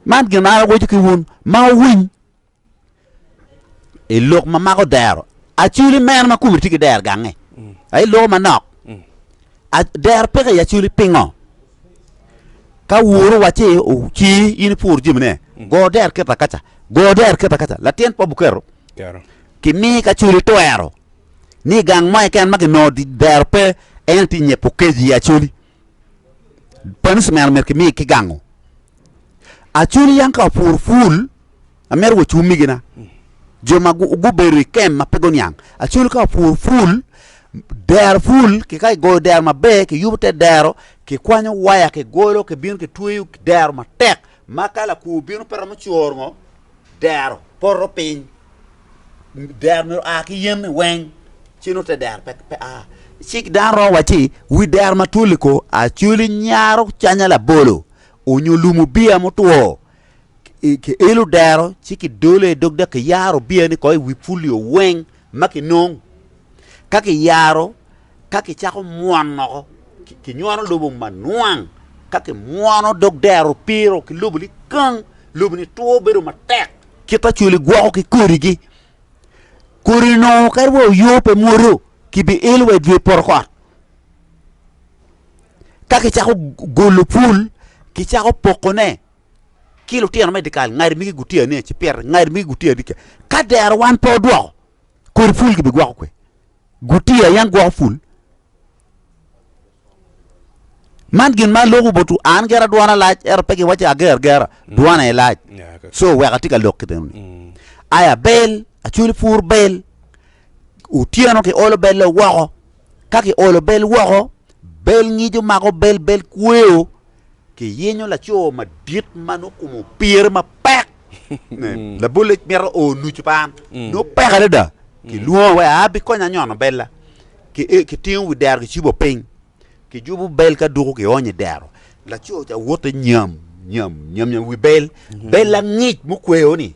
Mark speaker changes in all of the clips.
Speaker 1: Man gin ma an awaco ki wun ma wuwiny i lok ma mako dero. Aculi meno ma kome tye ki dero gange. Aye loko manok. Dero peke i aculi pingo. Ka wuru wace ci in ipur jimi ne. Go dero kita kaca. Go dero kita kaca. Latin po buketo. Ki mi ka culi twero. Ni gang mo eken ma ki no dero pe en ti nyepo keji i aculi. Punishment omyero ki migi ki gango. Actually yan ka opur full amyero wa cumi gina. Jo ma gubedo i kem ma pe guniang. Actually ka opur full dero full ki ka igoyo dero maber ki yubo te dero ki kwanyo waya ki golo ki bino ki tweyo dero matek ma ka lakur bino pe romo coro ngo. dero poto piny, dero myero oa ki yene weng ci nongo te dero pe a. Cik dano romo wacci wi dero ma twol-li ko, Acwali nyaro canya labolo onyo lum obiya mutwo, ki elo dero ci ki dolo i dog dek ki yaro obiya-ni ko i wi pul-lio weng ma ki nong ka ki yaro. Ka kicako mwon woko, kinyono lobo ma nwang. Ka kimwono dog dero opiro ki lobo likang, lobo-ni two bedo matek. Kit ma culi gwoko ki kodigi, Kodi onongo kadi wa oyoo pe mwodo, kibielo wa i dye poto kot. Ka kicako golo pul, kicako pokone ki lutino me dikal, ngati migi gutiya ni acepit, ngati migi gutiya ni acepit. Ka dero wan pe odwoko, kodi pul kibigwoko kwede? Gutiya yam gwoko pul. Man gin ma loko botwu, an gera dwana lac, ento pe giwaco ager gera, dwana aye lac. So wek atye ka lok ki bino ni. Aya bel, acwali pur bel, otyeno kiolo belle woko, ka kiolo bel woko, bel ngico mako bel, bel kweo, Kiyenyo laco madit ma nongo kome opire mapek. Labole mito o nucu pa an. Nongo pek adada. Kilwongo wek aa bikonya nyono bella. Ki- eh, Kitingo wi dero kicibo piny. Kijubo bel ka duko kionyo i dero. Laco ca woto nyam nyam nyam nyam i wi bel. Bella ngic mukweyo ni.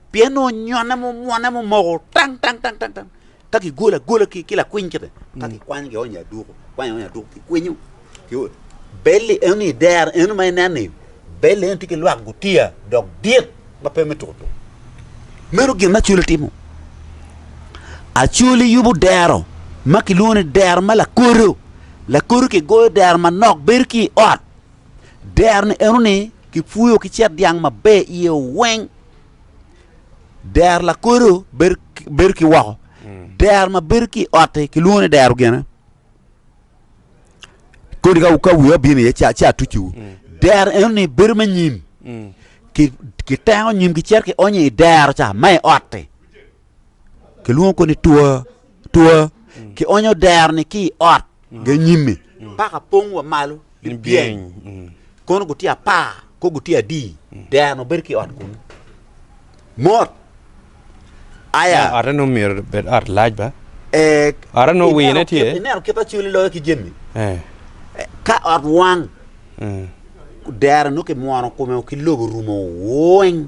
Speaker 1: Pien nongo nyone mumwone mumoko tang tang tang tang tang ka kigolo agola ki ki lakwiny kite ka mm. kikwanyo ki onyo aduko kwanyo onyo aduko kikwinyo belli eno i dero eno ma inen ni belli eno tye ki lwak gutiya dok dit ma pe me tuko tuko meno gin ma culi timo aculi yubo dero ma kilwongo ni dero ma lakodo lakodo kigoyo dero manok bedo ki i ot Deroni eno ni kipwoyo ki cet dyang maber iye weng. Dero lakodo bedo ki woko. Mm. Dero ma bedo ki otte kilwongo ni dero gene. Kodi ka ka wiyo bini ye cha cha tuchu. Mm. Dero eno ni bedo me nyim. Mm. Ki ki tengo nyim ki cer ki onye i dero cha ma i otte. Kilwongo kodi ni two Twa, kionyo dero-ni ki i ot ganyim-mi, paka pong wa malo libyeny, kono gutye apar kong gutye adi, dero-nu bedo ki i ot kunu. Mot, aya. Ote nongo myero
Speaker 2: bed ot lac ba? Ee, Ote nongo wine tye. Ineno kit acoli loyo ki
Speaker 1: jami. Ka ot wang, dero nongo kimwono kome ki lobo orumo weng.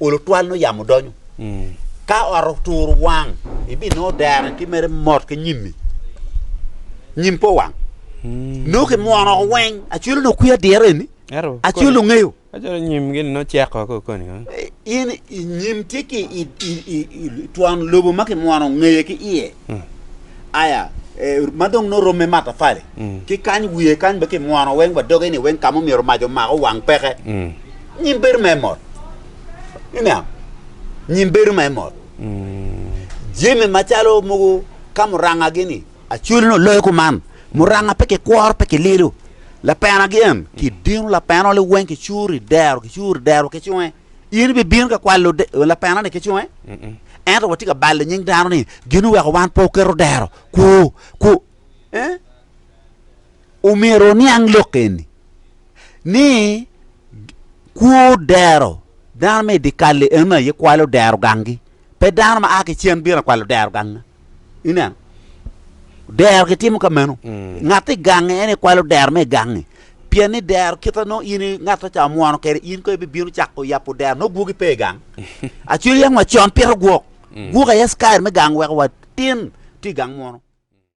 Speaker 1: olo twal nongo yamo donyo. Ka ot oturo wang, ibinongo dero tye mere mot ki nyim-mi. Nyim pe owang. Nongo kimwono woko weng, acwelo ni okwiya dyere eni, Ento acwelo ongeyo. acalo nyim gini nongo
Speaker 2: cek woko koni. ha? Eh, In i-
Speaker 1: nyim tye ki i- i- i- i- twon lobo ma kimwono ngeye ki iye. Mm. Aya, eh, ma dong nongo romme matafali. Mm. Ki kany wiye kany be kimwono weng wa doge-ni weng ka ma omyero mac omak owang peke. Mm. Nyim bedo me mot. Iniang, nyim bedo me mot. Jami macalo mogo ka muranga gini, acwele no loyo kuman. Muranga pe kikworo, pe kililo. Lapena gin, kidino lapena ni weng kicuro i dero, kicuro i dero kicunge. In bi bino ka kwalo lapena ni kicunge? Ento watye ka balo nying dano ni gin oweko wan pe oketo dero. Ku, ku, eh? Omyero wuniang lok eni, ni, Kwo dero dano me i dyekal-li en aye kwalo dero ganggi, pe dano ma a ki cen bino a kwalo dero gangna. Ineno? Dero gitimo ka meno. Ngat i gangi en aye kwalo dero me i gangi. Pien ni dero kite nongo in i ngat ca omwono kwede, in kong ibibino cako yabo dero nongo gwoki pe i gang. Acwiny yam wa con pito gwok. Gwok aye cikair me gang weko watin ti i gang munu.